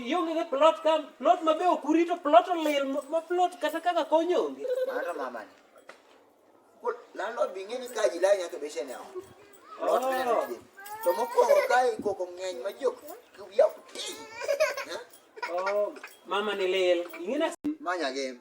Ionge gi plot ka plot mabe ok urito plot olil ma plot kata kaka konyo onge. Mano mama ni. Kul landlord bi ng'eni ka jila nyaka beshe ne on. Plot ne Oh. ni. To mokwongo ka ikoko ng'eny ma jok kuya kuti. Oh, mama ni lil. Ing'ina Manya game.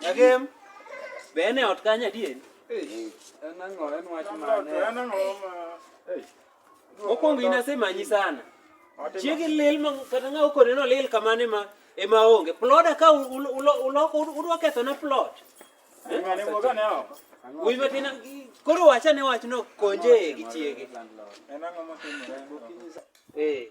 Nyakem, be en e ot kanyo adier? En ang'o? En wach mane? En ang'o ma... Mokwongo in asemanyi sana. Chiegi lil ma kata ng'a okone no lil kamane ma ema onge. Ploda ka uloko udwa kethona plot. Ng'ane wuoga ne oko. Wuoyi matin koro wachane wachno konje gi chiege. En ang'o motimore? Eh.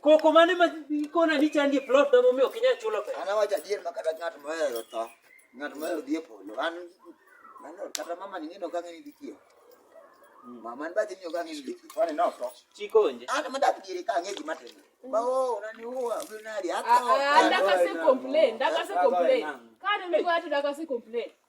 Koko mane ma ikona ni chandi plot da momiyo ok inyal chulo pesa. An awacho adier ma kata ng'at mohero tho, ng'at mohero dhi e polo. An mano kata mama ni ng'ino kang'e ni dhi kiewo. Mama ni bathi ni ok ang'e ni dhi kiewo. Kwani notho. Chikonje. An madak diere ka ang'e gima timore. Ma oo unaniua, unaniari, atho. Ah, ah, dakase complain, dakase complain. Kane mi wacho dakase complain.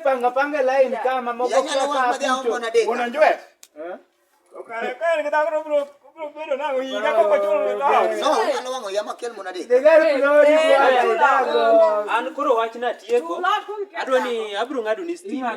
panga panga line kama moko unajua an koro wachna tieko adwa ni abro ng'ado ni stima